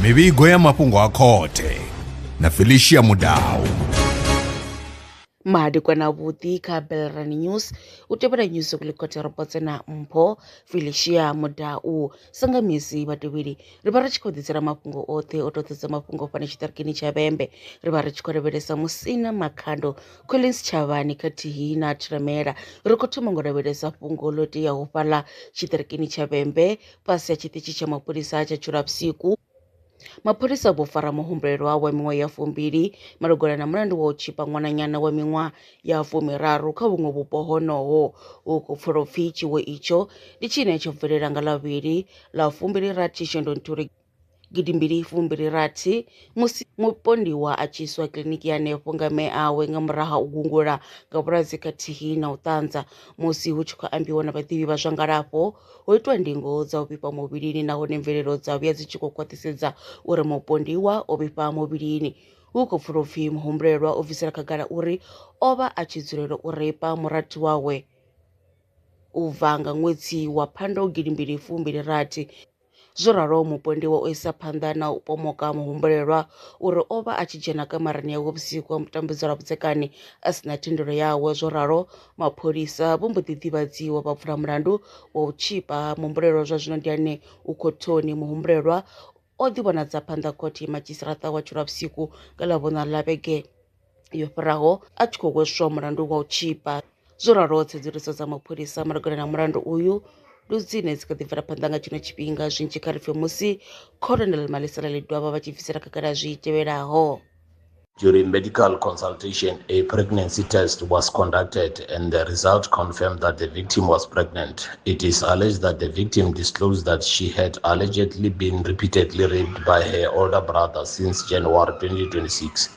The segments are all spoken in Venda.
mivhigo ya mafhungo a khothe na felicia mudau madekwana vhuḓi kha belran news u tevhela news kulikhote ro potse na mpho felicia mudau sanga misi vhatevheli ri vha ri tshi khou ḓisela mafhungo oṱhe o toḓedza mafhungo fhano tshiṱirikini tsha vhembe ri vha ri tshi khou lavhelesa musina makhando Collins Tshavhani khathihi na Thiremela ri khou thoma ngo lavhelesa fhungo ḽo teaho fhaḽa tshiṱirikini tsha Vhembe fhasi ha tshiṱitshi tsha mapholisa tsha Tshulapsiku. Mapholisa vho fara muhumbulelwa wa miṅwaha ya fumbili malugana na mulandu wa u tshipa ṅwananyana wa miṅwaha ya fumiraru kha vhuṅwe vhupo honoho hu khou pfulwa u pfi tshiwo itsho ndi tshine tsho bvelela nga Lavhili ḽa fumbili rathi Shundunthule gidi mbili fumbili rathi musi mupondiwa a tshi iswa kiḽiniki ya hanefho nga mme awe nga murahu ha u gungula nga vhulwadze khathihi na u ṱanza musi hu tshi khou ambiwa na vhaḓivhi vha zwa ngalafho ho itwa ndingo dza u vhifha muvhilini nahone mvelelo dza vhuya dzi tshi khou khwaṱhisedza uri mupondiwa o vhifha muvhilini hu khou pfula upfhi muhumbulelwa o bvisela khagala uri o vha a tshi dzulela u reipa murathu wawe u bva nga ṅwedzi wa phando gidi mbili fumbili rathi Zwo raloho, mupondiwa o isa phanḓa na u pomoka muhumbulelwa uri o vha a tshi dzhena kamarani yawe vhusiku ha mutambudzela lwa vhudzekani a si na thendelo yawe. Zwo ralo, mapholisa vho mbo ḓi ḓivhadziwa vha vula mulandu wa u tshipa muhumbulelwa. Zwa zwino ndi ane u khothoni. Muhumbulelwa o ḓi vhonadza phanḓa khothe Madzhisiṱaraṱa wa Tshilwavhusiku nga Ḽavhuṋa ḽa vhege yo fhiraho a tshi khou hweswa mulandu wa u tzhipa. Zwo ralo tsedzuluso dza mapholisa malugana na mulandu uyu ndi dzine dzi kha ḓi bvela phanḓa nga tshino tshifhinga zwinzhi kha ri pfe musi Colonel Malisela Ledwaba vha tshi bvisela khagala zwi tevhelaho. During medical consultation, a pregnancy test was conducted and the result confirmed that the victim was pregnant. It is alleged that the victim disclosed that she had allegedly been repeatedly raped by her older brother since January 2026.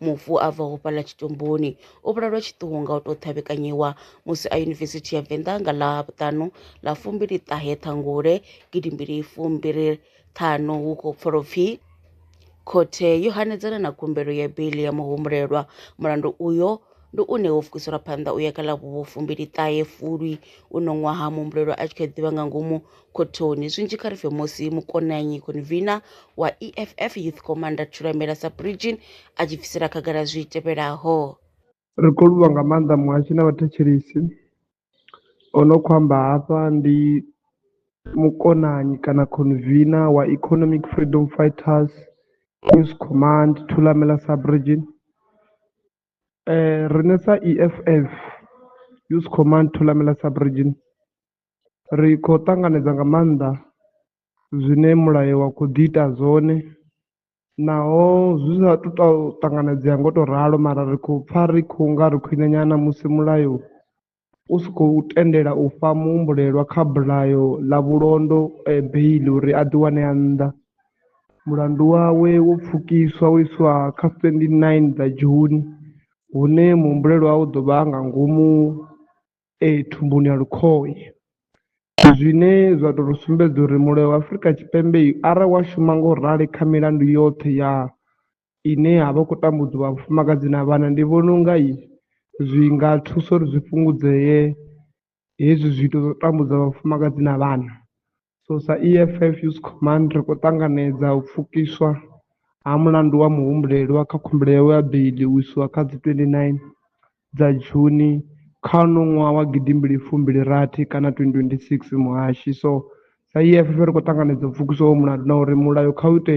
Mufu a bvaho fhaḽa tshitumboni o vhulalwa tshiṱuhu nga u tou ṱhavhekanyiwa musi a Yunivesithi ya Venḓa nga ḽa vhuṱanu ḽa fumbili ṱahe Ṱhangule gidi mbili fumbili ṱhanu hu khou pfala upfi khothe yo hanedzana na khumbelo ya beiḽi ya muhumbulelwa mulandu uyo ndi une wo fukiselwa phanḓa u ya kha ḽa vhufumbili ṱahe Fulwi uno ṅwaha muhumbulelwa a tshi kha ḓivha nga ngomu Khothoni, zwinzhi kha ri pfe Mosi Mukonanyi Konvina wa EFF Youth Commander Thulamela sa Brigin a tshi bvisela khagala zwi tevhelaho. Ri khou livhuwa nga maanḓa muhashi na vhathetshelesi. O no khou amba hafha ndi mukonanyi kana khonvina wa Economic Freedom Fighters Youth Command Thulamela sa Brigin. Riṋe sa EFF Youth Command Thulamela sa Brigin ri kho ṱanganedza nga maanḓa zwine mulayo wa kho ḓi ita zwone naho zwi sa tu to ṱanganedzea ngo to ralo mara ri khou pfha ri khou nga ri khwine nyana musi mulayo u si khou tendela u fha muhumbulelwa kha bulayo ḽa vhulondo beiḽi uri a ḓi wane a nnḓa mulandu wawe wo pfhukiswa wo iswa kha twenty nine dza june hune muhumbulelwa u ḓo vha nga ngomu ee thumbuni ya lukhohe zwine zwa tou ri sumbedza uri mulayo wa Afrika Tshipembe arali wa shuma ngo rali kha milandu yoṱhe ya ine ya vha khou tambudzwa vha vhafumakadzi na vhana ndi vhona unga i zwi nga thusa uri zwi fhungudzee hezwi zwiito zwa u tambudza vhafumakadzi na vhana So sa EFF Youth Command ri khou ṱanganedza u pfukiswa ha mulandu wa muhumbulelwa kha khumbelo yawe ya beiḽi u iswa kha dzi 29 dza Juni kha uno ṅwaha wa gidi mbili fumbili rathi kana 2026 Muhashi, So sa EFF ri khou ṱanganedza u pfukiswa ha uyo mulandu na uri mulayo kha u ite